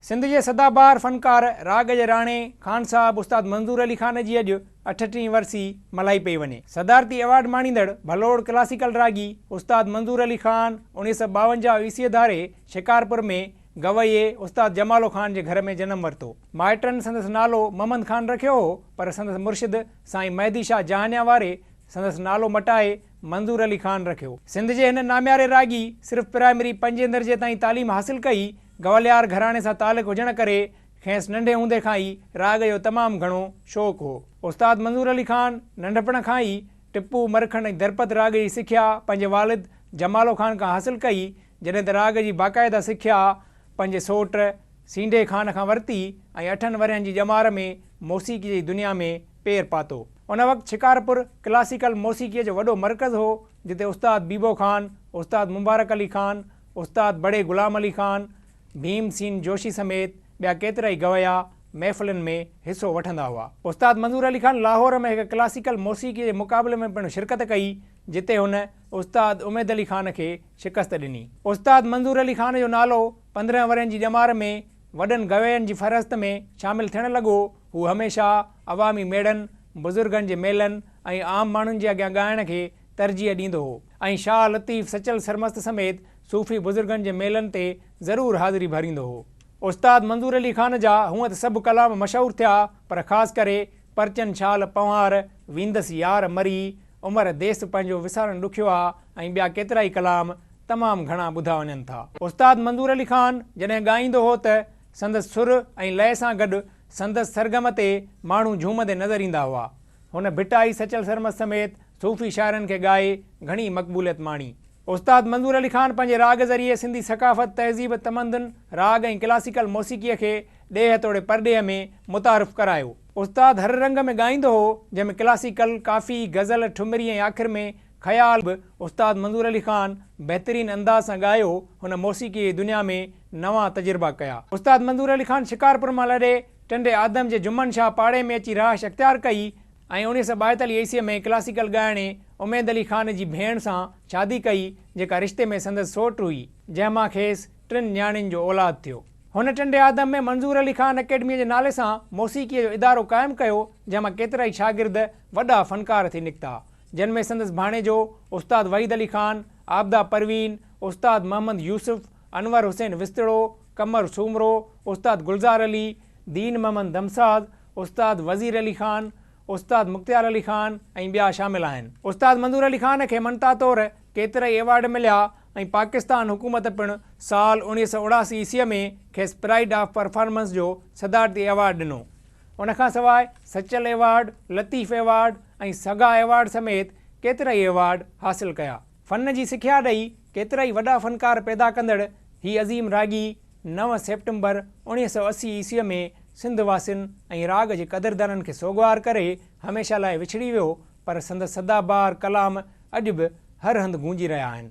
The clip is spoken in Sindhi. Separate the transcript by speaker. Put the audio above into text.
Speaker 1: سنڌ جي سدا بهار فنڪار راڳ جي راڻي خان صاحب استاد منظور علي خان جي اڄ اٺٽيهين ورسي ملهائي پئي وڃي. صدارتي ايوارڊ ماڻيندڙ ڀلوڙ ڪلاسيڪل راڳي استاد منظور علي خان اڻيهه سؤ ٻاونجاهه عيسويء ڌاري شڪارپور ۾ گويي استاد جمالو خان جي گهر ۾ جنم ورتو. مائٽن سندس نالو محمد خان رکيو هو پر سندس مرشد سائين مهدي شاهه جهانيان واري سندس نالو مٽائي منظور علي خان رکيو. سنڌ جي هن نامياري راڳي صرف پرائمري پنجين درجي تائين تعليم حاصل ڪئي. گواليار گهراڻي سان تعلق هجڻ ڪري کينس ننڍي هوندي کان ئي راڳ جو تمام گهڻو شوق هو. استاد منظور علي خان ننڍپڻ کان ئي ٽپو، مرکنڊ ۽ درپد راڳ جي سکيا پنهنجي والد جمالو خان کان حاصل ڪئي. جڏهن ته راڳ جي باقاعده سکيا پنهنجي سوٽ سينڍي خان کان ورتي ۽ اٺن ورهين جي ڄمار ۾ موسيقيء جي دنيا ۾ پير پاتو. ان وقت شڪارپور ڪلاسيڪل موسيقيء جو وڏو مرڪز هو، جتي استاد بيبو خان، استاد مبارڪ علي خان، استاد بڙي غلام علي خان، ڀيم سين جوشي سميت ٻيا ڪيترائي گويا محفلن ۾ حصو وٺندا هئا. استاد منظور علي خان لاهور ۾ هڪ ڪلاسيڪل موسيقيء جي مقابلي ۾ پڻ شرڪت ڪئي، جتي هن استاد اميد علي خان کي شڪست ڏني. استاد منظور علي خان جو نالو پندرهن ورهين جي ڄمار ۾ وڏن گوين جي فهرست ۾ شامل ٿيڻ لڳو. هو هميشه عوامي ميڙن، بزرگن جي ميلن ۽ عام ماڻهن جي اڳيان ڳائڻ کي ترجيح ڏيندو هو ۽ شاهه لطيف سچل سرمست سميت صوفي بزرگن جي ميلن تي ضرور حاضري ڀريندو هو. استاد منظور علي خان جا هونء ته سڀ ڪلام مشهور ٿيا پر خاص ڪري پرچن شال پنهوار، ويندس يار مري، عمر ديس پنهنجو وسارڻ ڏکيو آ ۽ ٻيا ڪيترائي ڪلام تمام گهڻا ٻڌا وڃن ٿا. استاد منظور علي خان جڏهن ڳائيندو هو ته سندس سر ۽ لئه سان گڏ سندس سرگم تي ماڻهو جهومندي نظر ايندا هئا. هن ڀٽائي سچل سرمست سميت صوفي شاعرن کي ڳائي گهڻي مقبوليت ماڻي. استاد منظور علي خان پنهنجي راڳ ذريعي سنڌي ثقافت، تهذيب، تمندن، راڳ ۽ ڪلاسيڪل موسيقيء کي ڏيهه توڙي پرڏيهه ۾ متعارف ڪرايو. استاد هر رنگ ۾ ڳائيندو هو، جنهن ۾ ڪلاسيڪل، ڪافي، غزل، ٺمري ۽ آخر ۾ خيال به استاد منظور علي خان بهترين انداز سان ڳايو، هن موسيقيء جي دنيا ۾ نوان تجربا ڪيا. استاد منظور علي خان شڪارپور مان لڏي ٽنڊي آدم جي جمن شاهه پاڙي ۾ اچي رهائش اختيار ڪئي، ۽ اڻيهه سئو ٻايتاليهه عيسويء ۾ ڪلاسيڪل ڳائڻي اميد علي خان جي ڀيڻ سان شادي ڪئي، جيڪا رشتي ۾ سندس سئوٽ هئي، جنهن مان کيس ٽن نياڻين جو اولاد ٿيو. هن ٽنڊي آدم ۾ منظور علي خان اڪيڊميء جي نالي سان موسيقيء جو ادارو قائم ڪيو، جنهن مان ڪيترائي شاگرد وڏا فنڪار ٿي نڪتا، جن ۾ سندس ڀاڻيجو استاد وحيد علي خان، عابده پروين، استاد محمد يوسف، انور حسين وسطڙو، قمر سومرو، استاد گلزار علي، دين محمد دمساز، استاد وزير علي خان، استاد مختيار علي خان ۽ ٻيا شامل آهن. استاد منظور علي خان کي مڃتا طور ڪيترائي ايوارڊ مليا ۽ پاڪستان حڪومت پڻ سال اوڻيهه سؤ اڻاسي عيسويء ۾ کيس پرائيڊ آف پرفارمنس جو صدارتي ايوارڊ ڏنو. ان کان سواء سچل ايوارڊ، لطيف ايوارڊ ۽ سگا ايوارڊ سميت ڪيترائي ايوارڊ حاصل ڪيا. فن جي سکيا ڏئي ڪيترائي وڏا فنڪار پيدا ڪندڙ هي عظيم راڳي نو سيپٽمبر اوڻيهه سؤ اسي عيسويء ۾ سنڌ واسين ۽ راڳ جي قدردانن کي سوڳوار ڪري هميشه لاء وڇڙي ويو پر سندس سدا بهار ڪلام اڄ به هر هنڌ گونجي رهيا آهن.